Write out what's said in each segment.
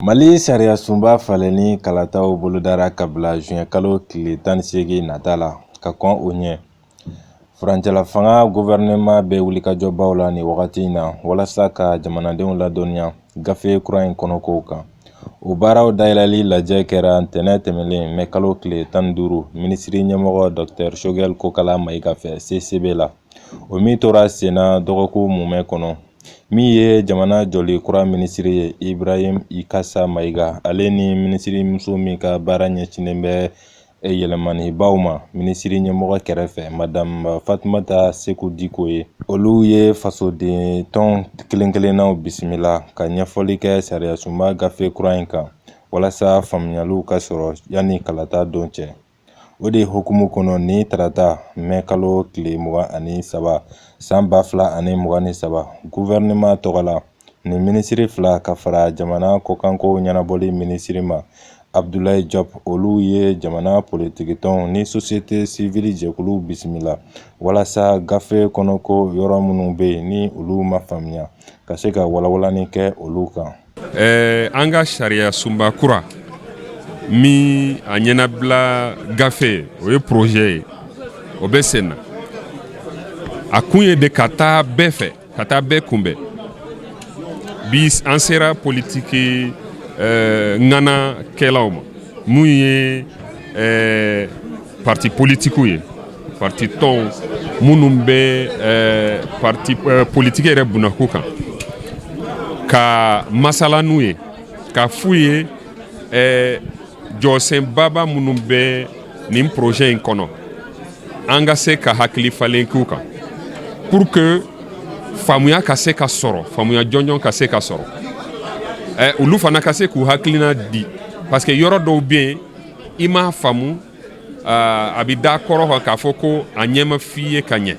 Mali sariya sunba falenni kalataw bolodara ka bila zuwɛn kalo tile tan ni segin nata la ka kɔn o ɲɛ furancɛla fanga gouvernement bɛ wulikajɔbaw la ni wagati in na walasa ka jamanadenw ladɔnniya gafe kura in kɔnɔkow kan o baaraw dayɛlɛli lajɛ kɛra ntɛnɛn tɛmɛnlen mɛ kalo tile tan ni duuru minisiri ɲɛmɔgɔ docteur Choguel Kokala Mayiga fɛ CICB la o min tora sen na dɔgɔkun mumɛ kɔnɔ min ye jamana jɔli kura minisiri ye Ibrahim Ikasa Mayiga ale ni minisiri muso min ka baara ɲɛsinnen bɛ yɛlɛmanibaw ma minisiri ɲɛmɔgɔ kɛrɛfɛ madamu Fatumata Seku Diko ye olu ye fasoden tɔn kelen-kelennaw bisimila ka ɲɛfɔli kɛ sariya sunba gafe kura in kan walasa faamuyaliw ka sɔrɔ yanni kalata don cɛ O de hukumu kɔnɔ ni tarata mɛ kalo tile mugan ani saba san ba fila ani mugan ni saba gouvernement tɔgɔ la ni minisiri fila ka fara jamana kɔkankow ɲɛnabɔli minisiri ma Abdoulaye Diop olu ye jamana politikitɔnw ni société civile jɛkulu bisimila walasa gafe kɔnɔko yɔrɔ minnu bɛ yen ni olu ma faamuya ka se ka walawalani kɛ olu kan Eh, an ka sariya sunba kura min a ɲɛnabila gafe o ye projet ye o bɛ sen na a kun ye de ka taa bɛɛ fɛ ka taa bɛɛ kunbɛn bi an sera politiki eh, ŋana kɛlaw ma min ye eh, parti politikiw ye Parti tɔnw minnu bɛ eh, parti eh, politiki yɛrɛ bunako kan ka masala n'u ye ka f'u ye eh, jɔsenbaba minnu bɛ nin projet in kɔnɔ an ka se ka hakili falen k'u kan pour que faamuya ka se ka sɔrɔ faamuya jɔnjɔn ka se ka sɔrɔ eh, olu fana ka se k'u hakilina di parce que yɔrɔ dɔw bɛ yen i m'a faamu a bɛ da kɔrɔ kan k'a fɔ ko a ɲɛ ma f'i ye ka ɲɛ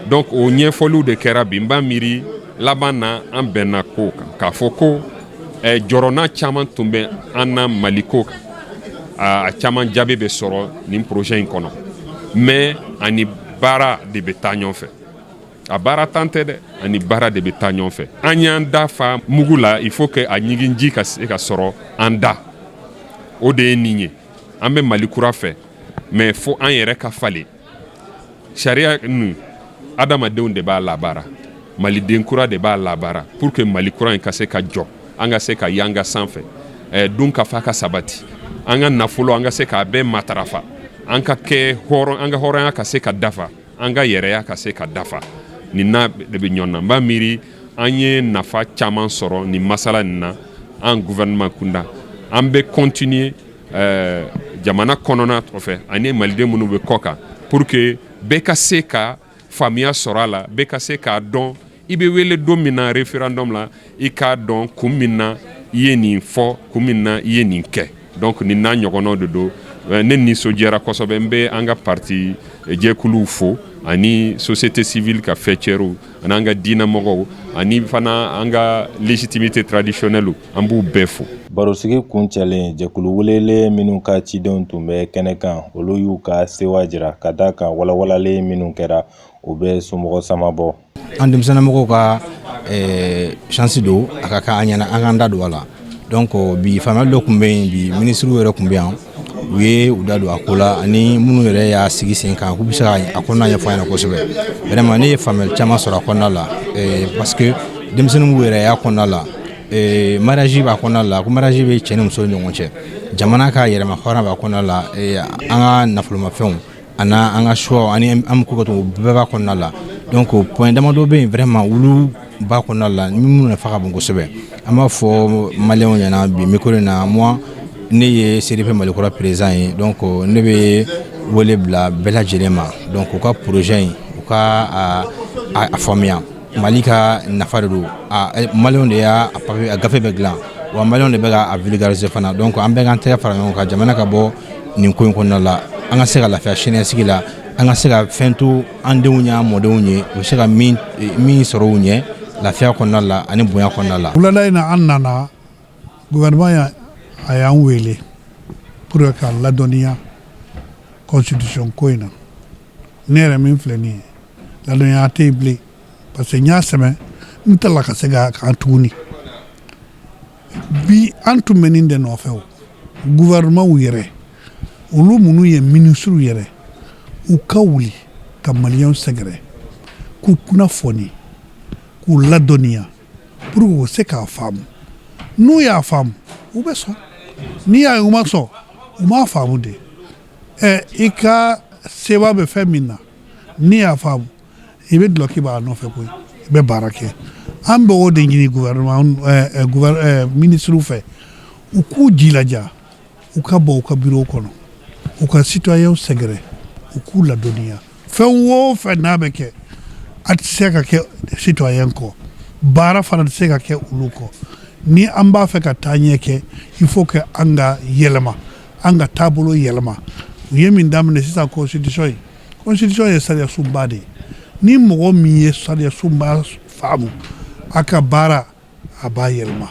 donc o ɲɛfɔliw de kɛra bi n b'a miiri laban na an bɛnna ko kan k'a fɔ ko jɔrɔna caman tun bɛ an na mali ko kan a caman jaabi bɛ sɔrɔ nin projet in kɔnɔ mais ani baara de bɛ taa ɲɔgɔn fɛ A baara tan tɛ dɛ ani baara de bɛ taa ɲɔgɔn fɛ an y'an da fa mugu la il faut que a ɲigin ji ka se ka sɔrɔ an da o de ye nin ye an bɛ mali kura fɛ mais fo an yɛrɛ ka falen sariya ninnu adamadenw de b'a labaara maliden kura de b'a labaara pour que mali kura in ka se ka jɔ an ka se ka yanga sanfɛ dunkafa ka sabati an ka nafolo an ka se k' a bɛɛ matarafa an ka kɛ an ka hɔrɔnya ka se ka dafa An ka yɛrɛya ka se ka dafa nin n'a de bɛ ɲɔgɔn na n b'a miiri an ye nafa caman sɔrɔ nin masala nin na an gouvernement kunda an bɛ continuer jamana kɔnɔna fɛ ani maliden minnu bɛ kɔ kan pour que bɛɛ ka se ka faamuya sɔrɔ a la bɛɛ ka se k'a dɔn I bɛ wele don min na referendum la i k'a dɔn kun min na i ye nin fɔ kun min na i ye nin kɛ donc nin n'a ɲɔgɔnnaw de don ne nisɔndiyara kosɛbɛ n bɛ an ka parti jɛkuluw fo ani société civile ka fɛcɛriw ani an ka diinɛmɔgɔw ani fana an ka légitimité traditionnelle an b'u bɛɛ fo. Barosigi kuncɛlen, jɛkulu welelen minnu ka cidenw tun bɛ kɛnɛ kan, olu y'u ka sewa jira, ka d'a kan walawalali minnu kɛra, o bɛ somɔgɔ sama bɔ an denmisɛnninmɔgɔw ka chance don a ka kan an ɲɛna an k'an da don a la donc bi faamuyali dɔ tun bɛ yen bi minisiriw yɛrɛ tun bɛ yan u ye u da don a ko la ani minnu yɛrɛ y'a sigi sen kan k'u bɛ se ka a kɔnɔna ɲɛfɔ an ɲɛna kosɛbɛ vraiment ne ye faamuyali caman sɔrɔ a kɔnɔna la parce que denmisɛnninw yɛrɛ y'a kɔnɔna la mariage b'a kɔnɔna la ko mariage bɛ cɛ ni muso ni ɲɔgɔn cɛ jamana ka yɛrɛmahɔrɔnya b'a kɔnɔna la an ka nafolomafɛnw Ani an ka choix ani an bɛ ko ka to bɛɛ b'a kɔnɔna la donc point damadɔ bɛ yen vraiment olu b'a kɔnɔna la ni minnu nafa ka bon kosɛbɛ an b'a fɔ maliyɛnw ɲɛna bi micro in na moi ne ye CDP Malikura président ye donc ne bɛ wele bila bɛɛ lajɛlen ma donc u ka projet in u ka a faamuya Mali ka nafa de don maliyɛnw de y'a gafe bɛ dilan wa maliyɛnw de bɛ k'a vulgariser fana donc an bɛɛ k'an tɛgɛ fara ɲɔgɔn kan jamana ka bɔ nin ko in kɔnɔna la an ka se ka lafiya siniɲɛsigi la an ka se ka fɛn to an denw ye an mɔdenw ye u bɛ se ka min sɔrɔ u ɲɛ lafiya kɔnɔna la ani bonya kɔnɔna la wulada in na an nana Gouvernement a y'an wele pour k'an ladɔnniya constitution ko in na ne yɛrɛ min filɛ nin ye ladɔnniya tɛ yen bilen parce que n y'a sɛbɛn ta ka segin a kan tuguni bi an tun bɛ nin de nɔfɛ o gouvernementw yɛrɛ olu minnu ye minisiriw yɛrɛ u ka wuli ka maliyɛnw sɛgɛrɛ k'u kunnafoni k'u ladɔnniya pour que u se k'a faamu n'u y'a faamu u bɛ sɔn n'i y'a ye u ma sɔn u m'a faamu de ɛ i ka sewa bɛ fɛn min na n'i y'a faamu i bɛ dulɔki b'a nɔfɛ koyi i bɛ baara kɛ an bɛ o de ɲini minisiriw fɛ u k'u jilaja u ka bɔ u ka bureau kɔnɔ u ka citoyen sɛgɛrɛ u k'u ladɔnniya fɛn o fɛn n'a bɛ kɛ a tɛ se ka kɛ citoyen kɔ baara fana tɛ se ka kɛ olu kɔ ni an b'a fɛ ka taa ɲɛ kɛ il faut que an ka yɛlɛma an ka taabolo yɛlɛma u ye min daminɛ sisan constitution ye constitution ye sariyasunba de ye ni mɔgɔ min ye sariyasunba faamu a ka baara a b'a yɛlɛma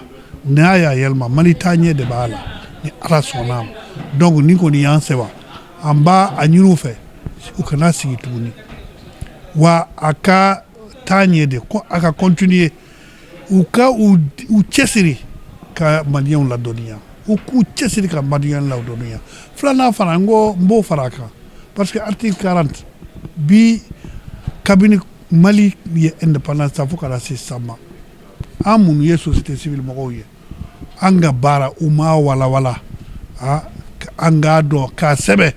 n'a y'a yɛlɛma Mali taa ɲɛ de b'a la ni ala sɔnna a ma donc nin kɔni y'an sewa an b'a ɲini u fɛ u kana sigi tuguni wa a ka taa ɲɛ de ko a ka continuer u ka u cɛsiri ka maliyɛnw ladɔnniya u k'u cɛsiri ka maliyɛnw ladɔnniya filanan fana n ko n b'o fara a kan parce que article 40 bi kabini Mali ye indépendance ta fo ka na se sisan ma an minnu ye société civile mɔgɔw ye an ka baara u m'a walawala an k'a dɔn k'a sɛbɛn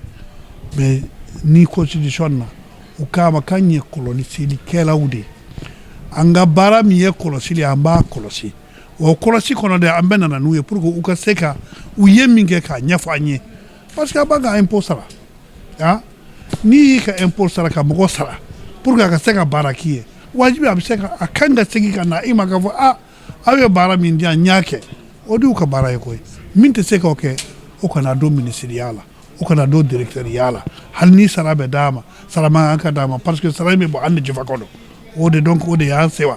mais nin constitution na u k'a ma k'an ye kɔlɔsilikɛlaw de ye an ka baara min ye kɔlɔsili an b'a kɔlɔsi o kɔlɔsi kɔnɔ de an bɛna na n'u ye pour que u ka se ka u ye min kɛ k'a ɲɛfɔ an ye Parce que an b'an ka impôt sara han n'i y'i ka impôt sara ka mɔgɔ sara pour que a ka se ka baara k'i ye wajibi a bɛ se ka a ka kan ka segin ka na i ma k'a fɔ a aw ye baara min di yan n y'a kɛ o de y'u ka baara ye koyi min tɛ se k'o kɛ o kana don minisiriya la o kana don dirɛkitɛriya la hali ni sara bɛ d'a ma sara man kan ka d'a ma parce que sara in bɛ bɔ an de jufa kɔnɔ o de donc o de y'an sewa